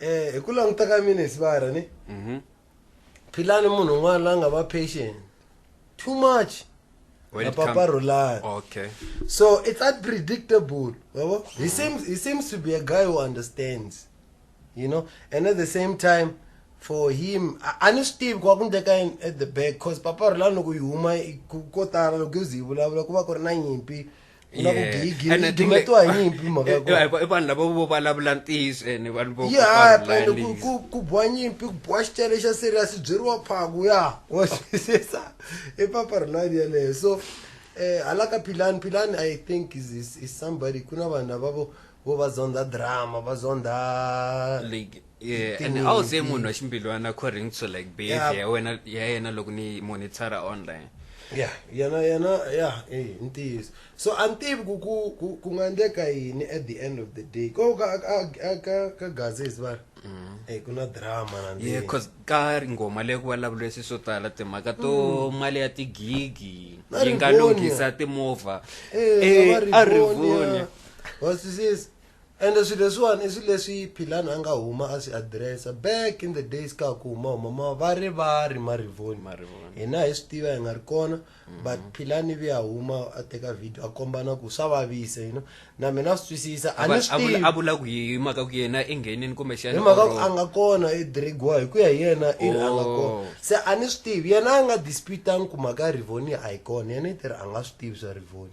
eh hi ku languta ka mina hisibara ni mhm. philani munhu un'wana la nga va patient too much napaparulani okay so it's unpredictable yabo mm. he seems he seems to be a guy who understands you know and at the same time for him a ni swi tivi ku va ku ndleka yini at the back cause paparulani loko yi huma ko tala loko yi ze yi vulavula ku va ku ri na nyimpi u lava ku gigile And I think like- dumetiwa hi nyimpi mhaka ya kona. Eh, eh, i vanhu lava vo vulavula ntiyiso ene vanhu vo ya va ri pele ku- layinisa. ku- ku boha nyimpi ku boha xitele xa serious byeriwa phaku ya wa twisisa i papa ri nani yeleyo so um hala ka philani philani i think is, is, is somebody ku na vanhu lavavo vo va zondha drama va zondha like yeah, and a wu se munhu wa ximbilwana according to like behavior ya wena ya yena loko ni monitara online ya yena yena ya i ntiyiso so a ni tivi ku ku ku nga endleka yini at the end of the day ko ka ka ka gazes va mm. eh ku na drama na yeah cause ka ngoma leyi ku vulavuriwe swi swo tala timhaka to mm. mali ya tigigi yi nga lunghisa timovha eh, eh a rivonia wa swisisa ende swilo leswiwani i swilo leswi philani a nga huma a swi adiresa back in the days ka ha ku huma huma ma va ri va ri marivoni Marivoni. hina hi swi tiva hi nga ri kona but philani vi a huma a teka video a kombana ku swa vavisa you know na mina swi twisisa a ni swi tivi a vula ku hi hi mhaka ku yena i nghenini kumbe xana hi mhaka ku a nga kona i drigiwa hi ku ya hi yena i ri a nga Oh. kona se a ni swi tivi yena a nga disputanga ku mhaka ya rivoni a yi kona yena i ti ri a nga swi tivi swa rivoni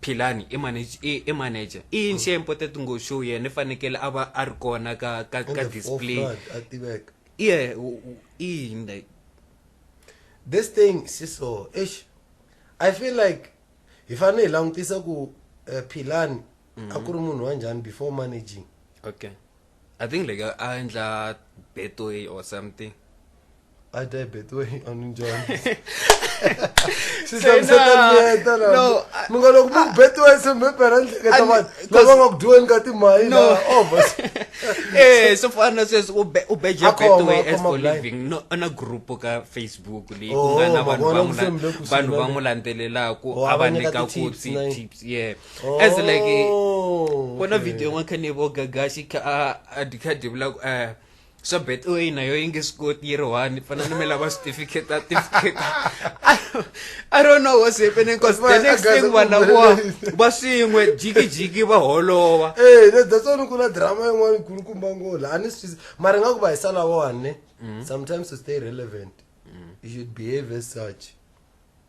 Philani i manage i, i manager i yini xi important ngo show yena i fanekele a va a ri kona ka ka, ka display a tiveka yeah i yini like this thing si so eish i feel like hi fanele hi langutisa ku uh, philani mm -hmm. a ku ri munhu wa njhani before managing okay I think like a endla betway or something. I die betway on njhani swi hlamuseta miyeta munga loko mu betway se mi pera nhleketa vanhu lava nga ku dyiweni ka timali na overs eh so far na sweswi u be u beja betway as for living no na group ka facebook leyi ku nga na vanhu va n'wi vanhu va n'wi landzelelaka a va nyika ku tips yeah oh. as like eh, oh, kona okay. video yin'we kha ni vo gagaxi kha a dikha divula ku eh swa bet o ina yo yi nge swi koti yi ri one fana ni mi lava certificate a certificate i don't know what's happening because the next thing vana vo va swin'we jikijiki va holova eh that's why ku na drama yin'wana kulukumba ngola a ni swi mara nga ku va hi sala one mm. sometimes to stay relevant mm. you should behave as such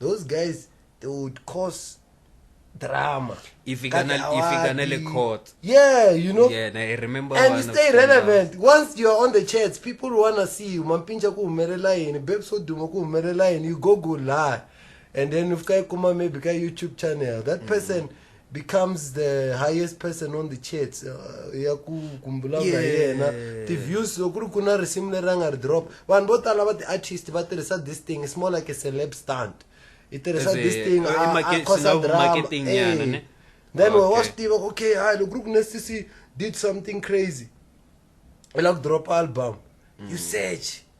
those guys they would cause drama ifika na ifika na le court yeah you know yeah na i remember and you stay relevant now. once you are on the chats people want to see you mampinja ku humelela yini babe so duma ku humelela yini you go go lie and then ufika ikuma maybe ka youtube channel that mm. person mm -hmm. becomes the highest person on the charts uh, ya ku kumbula na yena ti-views loko ri ku na risimu leri a nga ri drop vanhu vo tala va ti-artist va tirhisa this thing it's more like a celeb stunt i tirhisa this thing acosa drama eh. then wa swi tiva okay hayi loko ri ku na cc did something crazy i lava ku drop album you mm. search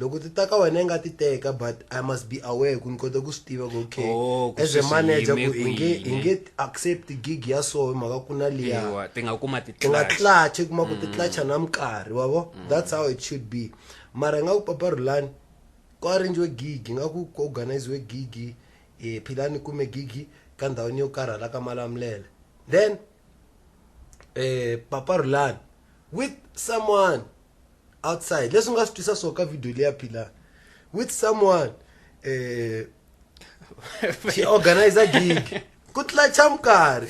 loko ti ta ka wena i nga ti teka but i must be aware ku ni kota ku swi tiva ku okay oh, as a manager ku hi nge hi nge accept gig ya so hi mhaka ku na liya ti nga kuma ti ti nga clutch kuma ku ti mm. clutch na minkarhi wa vo mm. that's how it should be mara nga ku papa rulani ku arrangiwe gig nga ku ku organiziwe gig eh philani kume gig ka ndhawini yo karhala ka malamulele then eh papa rulani with someone outside leswi nga swi twisa swo ka video leya philani with someone eh she organize a gig ku tlacha mukari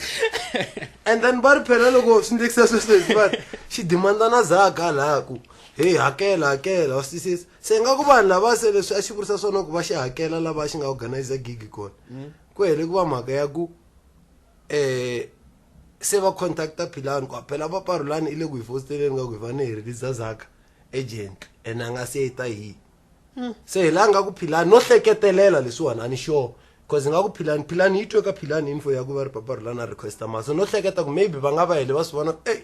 and then va ri phela loko swi ndlekisa sweswo hi va xi dimanda na zaka laha ku heyi hakela hakela wa swisisa se nga ku vanhu lava se leswi a xi vurisa swona ku va xi hakela lava xi nga organize gig kona ku hele ku va mhaka ya ku um se va contacta philani ku phela va parulani i le ku hi fositeleni nga ku hi fane hi release zaka agent ene a nga se yi ta hi hmm. se hi la nga ku philani no hleketelela leswiwani a ni sure cause nga ku philani philani yi twe ka philani info ya ku va ri papa rulani a requesta mali so no hleketa ku maybe va nga va hele va swi vona ku ey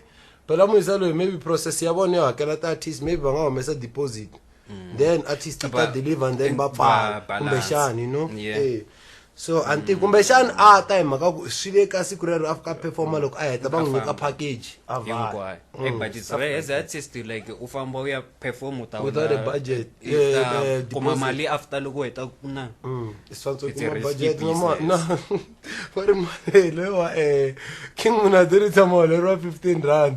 phela muyisa loyi maybe process ya vona yo hakela ti-artist maybe va nga humesa deposit mm. then artist ta deliver and then va pfala kumbexani you know yeah. hey. Eh. so anti mm. kumbexani a ta hi mhaka ku swi le ka siku rero a fika performa loko a heta va n'wi nyika package a va mm. but it's rare as artist like u famba u ya perform uta without a budget kuma mali after loko heta ku na mm. i swantswe kuma budget no ma no va ri mali lewa eh king muna dirisa mali ro 15 rand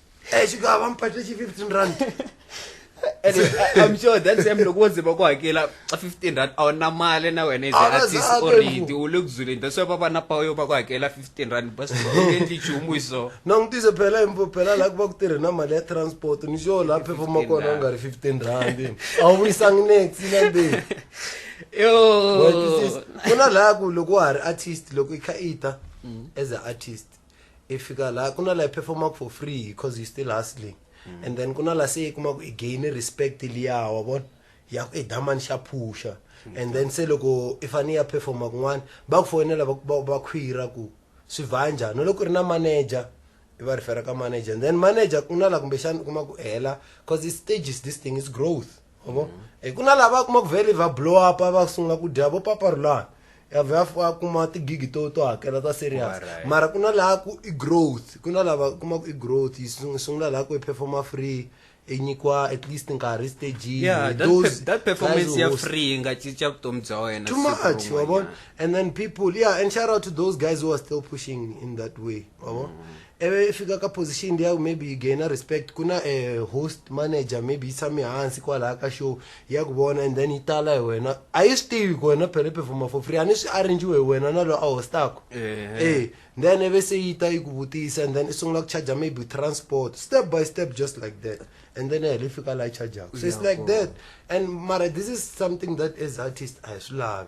Eh xi nga va mphatle xi 15 rand. and I'm sure that same loko wo zima ku hakela 15 rand a wu na mali na wena is an artist already u le ku zuleni that's why va va na power yo va ku hakela 15 rand bas endli nchumu hi so na n'wi tise phela impo phela laha ku va ku tirhe na mali ya transport ni xo laha phefoma kona u nga ri 15 rand a wu vuyisangi next na be yo ku na laha ku loko wa ha ri artist loko i kha i ta mm. as an artist i fika la ku na la i performaka for free because he still hustling mm. and then ku na la se i kuma ku i gain respect liya wa vona ya ku i damani xa phusha mm. and then se loko i fane ya performa kun'wana va ku foyinela va khwira ku swi va njhani loko ri na manager i va rifera ka manager and then manager ku na la kumbexana u kuma ku hela because i stages this thing is growth yabo mm. hi ku na lava kuma ku vele va blow up va sungula ku dya vo paparulana ya vhe a kuma tigigi to to hakela ta serious mara ku na laha ku i growth ku na lava kuma ku i growth yi sungula laha ku i performa free i nyikiwa at least nkarhi staging yeah, those that performance ya free nga cinca vutomi bya wena too much wabona and then people yeah and shout out to those guys who are still pushing in that way wabona mm. ivi i fika ka position liya maybe yi gaina respect ku na a host manager maybe yi tshame hansi kwalaya ka show ya ku vona and then yi tala hi wena a yi swi tivi ku wena phele performa for free a ni swi arrangiwe hi wena na loyi a hostako e then ive se yi ta yi ku vutisa and then i sungula ku charger maybe transport step by step just like that and then heli fika laha chargaka so it's like that and mara this is something that as artist a hi swi lavi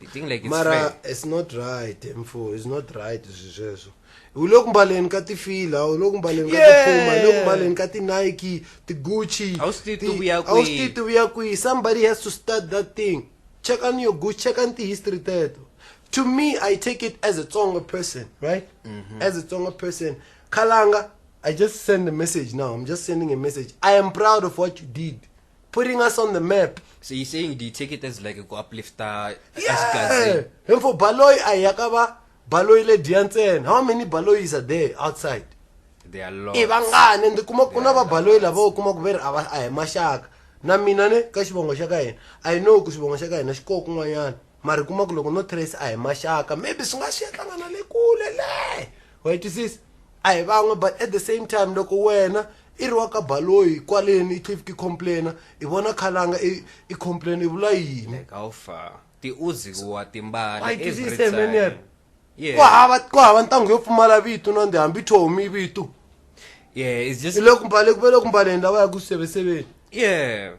you think like it's mara fair? it's not right eh, mfo it's not right swi sweswo u le ku mbaleni ka tifila u le ku mbaleni ka Yeah. tipuma u le ku mbaleni ka tinike tigucci A wu swi tivi ti- ti vuya a wu swi kwihi. tivi ti vuya kwihi somebody has to start that thing check on your gucci check on tihistory teto to me i take it as a tsonga person right Mm-hmm. as a tsonga person khalanga i just send a message now i'm just sending a message i am proud of what you did putting us on the map so you saying do you take it as like ku uplifter yeah. and for baloy ayakaba baloyi le dya ntsena how many baloyis are there outside i vangani ende kuma ku na vabaloyi lava u kuma ku ve ri a hi maxaka na mina ne ka xivongo xa ka hina a yi no ku xivongo xa ka hina xi koho kun'wanyana mara kuma ku loko no trace a hi maxaka maybe swi nga swi ya hlangana le kule le wa yi twisisa a hi van'we but at the same time loko wena i ri wa ka baloyi kwaleni i tlhe i complaina i vona khalanga i complain i vula yini tiuziwa timbala every time ku hava ku hava ntango yo pfumala vito na ndi hambi thomi vito yeah it's just loko mbale ku vele ku mbaleni lawa ya ku seveseveni yeah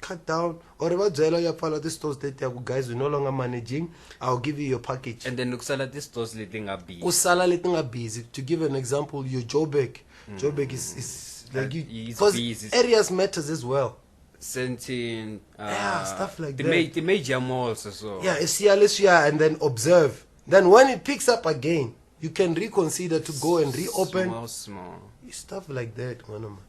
cut down or va byela ya pfala ti stores teti ya ku guys we no longer managing i'll give you your package and then kusala ti stores leti nga busy kusala leti nga busy to give an example your joburg mm. joburg is, is like you because busy. areas matters as well sentient uh, yeah stuff like the that ma the major malls so yeah esiya leswiya and then observe then when it picks up again you can reconsider to go and reopen small, small. stuff like that manoma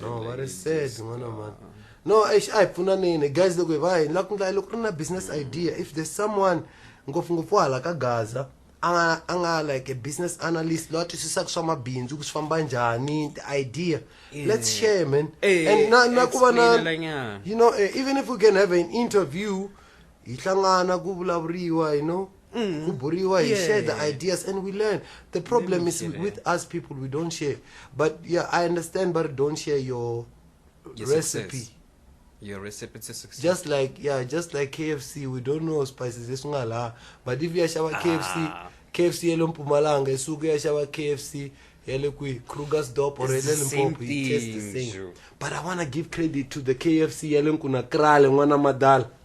no va ri sad n'wana mani no eish a hi pfunaneni guys loko hi va hi lava ku ndla loko ri na business idea if there's someone ngopfungopfu hala ka gaza a nga a nga like a business analyst loyi a twisisaka swa mabindzu ku swi famba njhani ti-idea let's share man Eh, and na na ku va na explain-elanyana. you know eh, even if we can have an interview hi hlangana ku vulavuriwa you know Mm. kuburiwa hi yeah. share the ideas and we learn the problem is with us people we don't share but yeah i understand but don't share your, your recipe success. your recipe to success just like yeah just like kfc we don't know spices esingala but if yashava ah. kfc kfc yale mpumalanga isuke yashava kfc yale kwi krugers dop or yale limpopo it tastes the same but i want to give credit to the kfc yale nkuna krale n'wana madala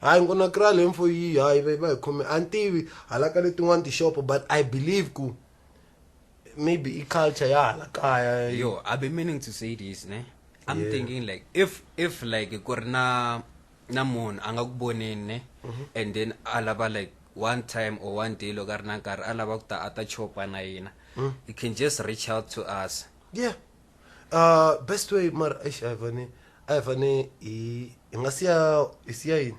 hayi ni ku na kral info yi hayi va va hi khome a ni tivi hala ka letin'wani tixopo but i believe ku maybe i culture ya hala kaya yo i've been meaning to say this ne i'm Yeah. thinking like if if like ku ri na na munhu a nga ku voneni ne Mm-hmm. and then a lava like one time or one day loko a ri na nkarhi a lava ku ta a ta chopa na yena Mm. you can just reach out to us yeah uh, best way mara eish ayivane ayivane hi hi nga siya hi siya yini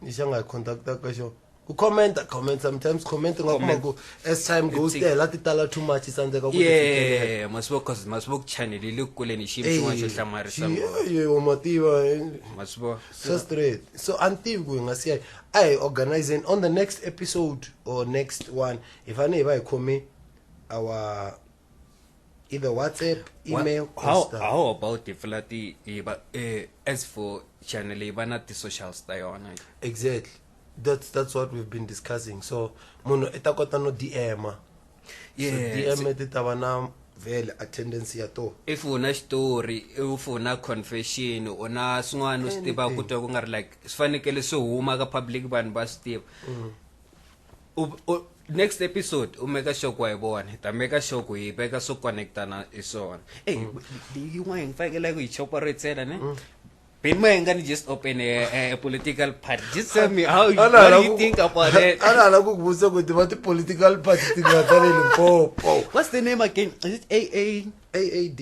ni xa nga hi contacta ka xo ku commenta comment sometimes comment nga kuma ku as time goes It's- tela ti tala too much i tsandzeka ku ti fikelela. ye masivo cause masivo channel yi le kule ni xi xin'wana xo hlamarisa mativa masivo so straight so a ni tivi ku hi nga siya a hi organizing on the next episode or next one hi fanele hi va hi khome our either WhatsApp, email, what, how, stuff. how about the flati? Eh, but uh, as for channel, not the socials they on. Exactly. That's that's what we've been discussing. So, mono etakota no DM. Yeah. So DM etitaba na vele attendance ya to if una story if una confession una swin'wana u swi tiva ku twa ku nga ri like swi fanekele swi huma ka public vanhu va swi tiva mm. next episode u meka sure ku wa yi vona hi ta meka sure ku hi veka swo connectana hi swona ey yin'wana hi ngi fanekele ku yi chopora ntsena ne mm. Ben Mayengani just open a, a political party. Just tell me how you, what do you think about it? Ana ala kukubuza ukuthi what political party tingathalele mpopo. What's the name again? Is it AA AAD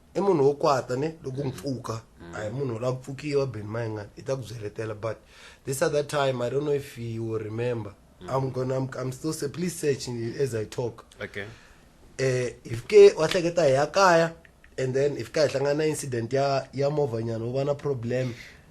i munhu wo kwata ne loko mpfuka a hi munhu la pfukiwa ben mayinga i ta ku byeletela but this other time i don't know if you will remember mm. i'm gonna I'm, i'm still say please search as i talk okay eh if ke wa hleketa hi ya kaya and then if ka hi hlangana incident ya ya movanyana u va na problem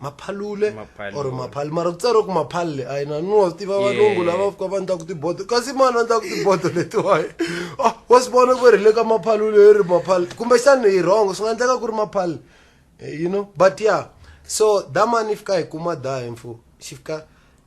maphalule or maphali mara ku tsariwe ku maphalle a yina ni wa swi tiva valungu lava fika va ndlaku tibodo kasi mani va ndlaku tibodo letiwaye ah, wa swi vona ku ri le ka maphalule hi ri maphali kumbexani hi rhongo swi nga endleka ku ri maphali eh, you know but ya so da mani fika hi kuma da hi mfo xi fika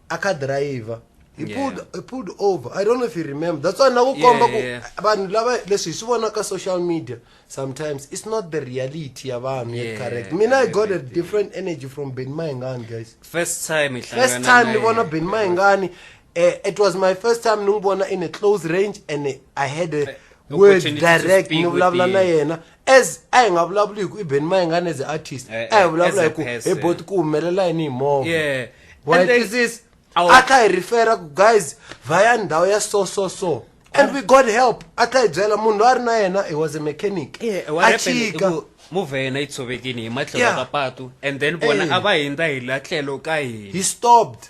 a kha driver he Yeah. pulled he pulled over i don't know if you remember that's why na ku Yeah, komba ku yeah. vanhu lava leswi hi swi vona ka social media sometimes it's not the reality ya vanhu Yeah, yeah, correct mina i got a everything. different energy from ben maingani guys first time first time ni vona ben maingani uh, it was my first time ni n'wi vona in a close range and eh, i had a word Opportunity to direct speak ni with vulavula na the- yena as a hi nga vulavuli hi ku i ben mayengane as a artist Eh, a hi eh, vulavula as a hi ku hi person. bot ku humelela yini hi movha yeah Wa and then twisisa? Awu. a tlha hi refera ku guys va ya ndhawu ya so so so and we got help a tlha hi byela munhu loyi a ri na yena he was a mechanic Yeah, what a happened i chika ku movha ya yena yi tshovekini hi matlhelo Yeah. ka patu and then vona Eh. a va hindza hi la tlhelo ka hina he stopped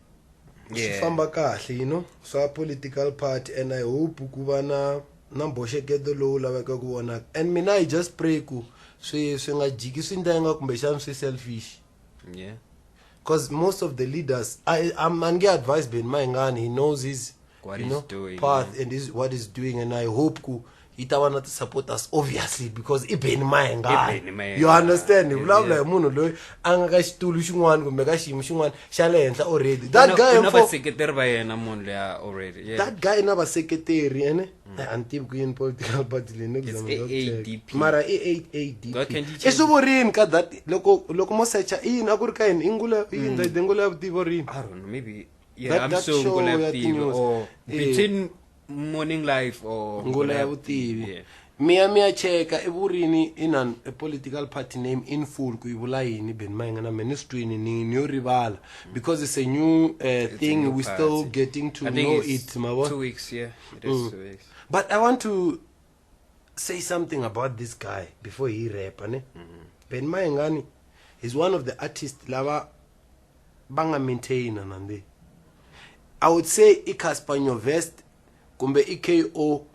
swi Yeah. famba kahle you know swa political party and i hope ku va na na mbhoxeketo lowu laveka ku vonaka and mina i just pray ku swi swi nga jiki swi ndenga kumbexana swi selfish yeah because most of the leaders I, I'm, I get advice Ben Maingani. He knows his what you know, doing, path yeah. and is what he's doing and i hope ku yi ta va na ti-supporters obviously because i beni mayengani you understand hi vulavula hi munhu loyi a nga ka xitulu xin'wana kumbe ka xiyimo xin'wana xa le henhla already that guy na vaseketeri va yena munhu leya already that guy na vaseketeri ene mm. a ni tivi ku yini political party leyi neadp mara i eight adp i swi vorini ka that loko loko mo secha i yini a ku ri ka yini i ngula i yini mm. ndayidengula ya vutivo rini yeah, That- I'm that so show ngula ya vutivi tinews. or Eh. between morning life or ngula ya vutivi Yeah. miya miya cheka evurini in an a political party name in full ku yi vula yini ben mayingana me ni swi twini ni ni yo rivala because it's a new uh, a thing new we still party. getting to I think know it's it mavo two weeks yeah it is Mm. two weeks but i want to say something about this guy before he rap ne ben mayingani is one of the artists lava va nga maintaina na ndi i would say i casper nyovest kumbe i ko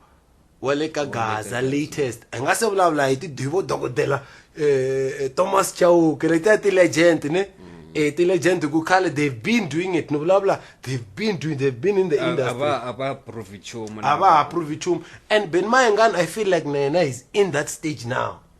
wa le ka gaza latest hi nga se vulavula hi tidivo dokodela um thomas chauke letiya ti-legend ne um eh, ti-legend ku khale they've been doing it ni vulavula they've been doing they've been in the industry a va ha provi chumu and ben mayengani i feel like na yena is in that stage now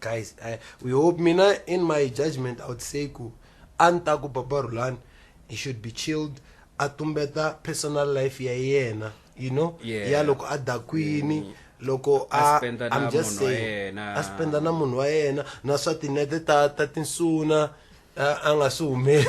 guys I, we hope mina in my judgment i would say ku a ni ta ku baba rulani he should be chilled a tumbeta personal life ya yena you know Yeah. ya loko a dakwini mm. loko A a spenda na i'm just munhu wa saying yena. a spenda na munhu wa yena na swa tinete ta ta tinsuna a a nga swi humeli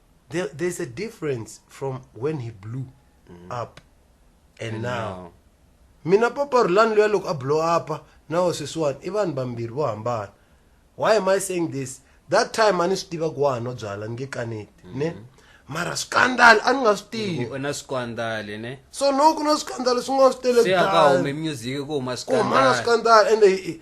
there, there's a difference from when he blew up and, And now now. mina papa rulani luya loko a blow upa na sweswiwani i vanhu vambirhi vo hambana why am i saying this that time a ni swi tiva ku wa ha nwa byala ni nge kaneti ne mara swikandali a ni nga swi tivi u na swikwandale ne so no ku na swikandali swin'wana swi tele se a ka kudala. humi music ku huma ku humana swikwandale swikandali ende i- i-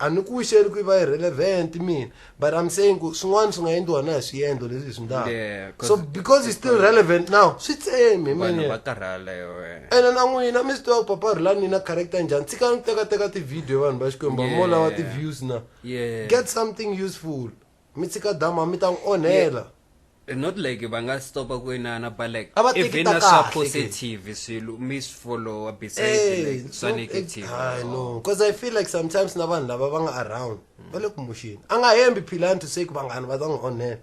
A ni ku xeli ku yi va irrelevant mina but I'm saying ku swin'wana swi nga endliwa na hi swiendlo leswi hi swi ndlaka Yeah, 'cause- so because it's still relevant now swi tsemi hi vanhu mina va karhala hi wena ene na n'wina mi swi tiva ku papa rhulani ni na character njhani tshikani ku tekateka ti-video vanhu va xikwembu Yeah. mo lava ti-views na Yeah. get something useful mi tshika dama mi ta n'wi onhela Eh, not like va nga stopa ku inana but like A va teki even ta na swa kahle ke. positive swilo mi swi followa besides Eh, like swa no, negative eh, I know. Cause I feel like sometimes na vanhu lava va nga around va le kumuxini a nga hembi philani to say ku vanghana va ta n'wi onhela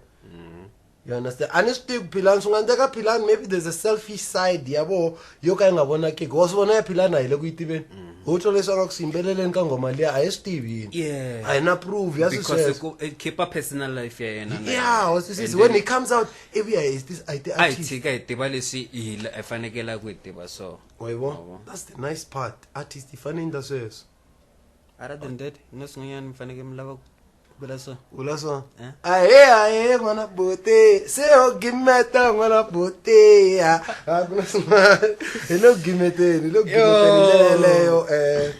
You understand? A ni swi tivi ku Philani swi nga endleka Philani maybe there's a selfish side ya voho yo ka yi nga vonakiki wa swi vona ya Philani a hi le ku yi tiveni ho twa leswi a nga ku swi yimbeleleni ka nghoma liya a hi swi tivi yini Yeah. a hi na prove ya because swisweswo ku- it keep a personal life ya yena na yeah yena. wa swisisi And when then- he comes out ivi ya hi ti- a hi ti a hi artist tshika hi tiva leswi hi la- hi fanekela ku hi tiva so wa yi Wa vona vona. that's the nice part artist yi fanele yi endla sweswo other than that no swin'wanyana mi fanekele mi lava ku Belaso. Belaso. Hein? Aye aye ngwana bote. Se o gimeta ngwana bote ya. Ah, Belaso. Hello gimete, hello gimete le yo eh.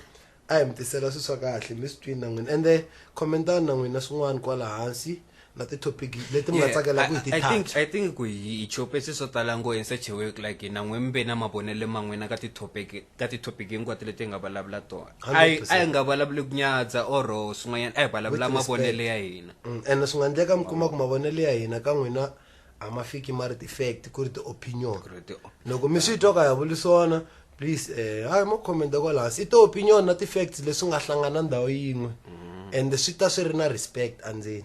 Ayi mi tisela swi swa kahle mi swi twini na n'wina ende khomentani na n'wina swin'wana kwala hansi na ti-topic leti mi nga tsakela ku hi ti touch i think ku hi chopesi swo tala ngo in such a way like na n'we mi ve na mavonelo man'wina ka ti-topic ka ti-topic hinkwato leti hi nga vulavula tona a yi a yi nga vulavuli ku nyadza or swin'wanyana a hi vulavula With respect. mavonelo ya hina Mm, ene swi nga endleka mi kuma ku mavonelo ya hina ka n'wina a ma fiki ma ri ti-fact ku ri ti-opinion ri ti- loko mi swi twa ka ya vuli swona please eh hayi mo comment kwala hansi i ti-opinion na ti-facts leswi nga hlangana ndhawu yin'we and swi ta swi ri na respect andzeni